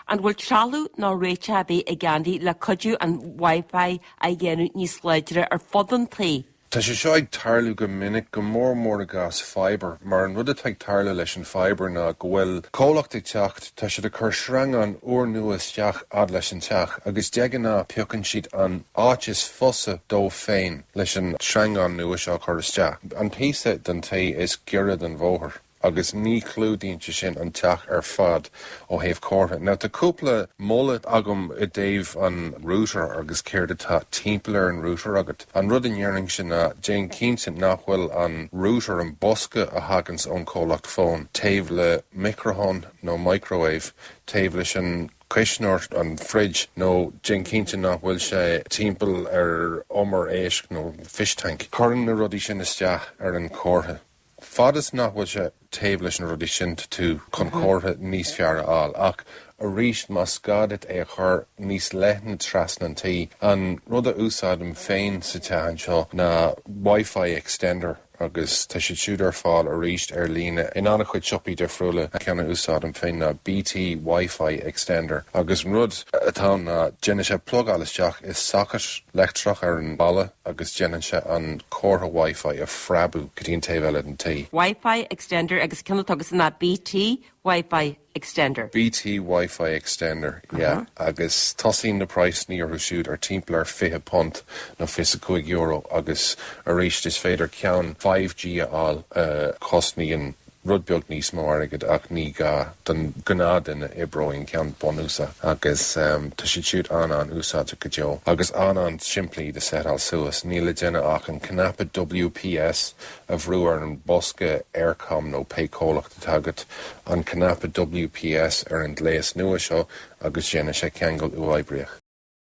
An bhfuil trealamh nó réiteach ar bith ag Andy le cuidiú an Wi-Fi a dhéanamh níos láidre ar fud an tí? Tá sé seo ag tarlú go minic, go mór mór i gcás fiber, mar an rud atá ag tarlú leis an fiber ná go bhfuil comhlacht ag teacht, tá siad ag cur sreangán úrnua isteach fhad leis an teach agus de ghnáth piocann siad an áit is fusa dóibh féin leis an sreangán nua seo a chur isteach, an píosa den tí is giorra don bhóthar. agus ní chlúdaíonn sé sin an teach ar fad ó thaobh comhartha. Now, tá cúpla moladh agam i dtaobh an router agus céard atá timpeall ar an router agat. An rud a déarfainnse ná, déan cinnte nach bhfuil an router, an bosca a thaganns ón chomhlacht fón, taobh le micreathonn nó microwave, taobh leis an cuisneoir, an fridge, nó déan cinnte nach bhfuil sé timpeall ar umar éisc nó fish tank. Cuireann na rudaí sin isteach ar an chomhartha. Fad is nach bhfuil sé taobh leis na rudaí sin tá tú chun comhartha níos fearr a fháil. Ach arís, más gá duit é a chur níos leithne trasna an tí, an rud a úsáidim féin sa teach anseo ná Wi-Fi Extender agus tá siad siúd ar fáil arís ar líne in an-chuid siopaí difriúla. An ceann a úsáidim féin ná BT Wi-Fi Extender agus an rud atá ann ná déanann sé plugáil isteach i socket leictreach ar an mballa. agus déanann sé an comhartha Wi-Fi a phreabadh go dtí an taobh eile den tí. Wi-Fi Extender agus ceann atá agat ná BT Wi-Fi Extender. BT Wi-Fi Extender, yeah. Agus tosaíonn na praghsanna orthu siúd ar timpeall ar £20 nó €25 agus arís is féidir ceann 5G a fháil a chosnaíonn rud beag níos mó airgid ach ní gá don ghnáthduine oibreoidh an ceann bunúsach agus tá siad siúd an-an-úsáideach go deo agus an-an-simplí de seitheáil suas, níl le déanamh ach an cnaipe WPS a bhrú ar an bosca Eircom nó pé comhlacht atá agat, an cnaipe WPS ar an ghléas nua seo agus déanfaidh sé ceangal uathoibríoch.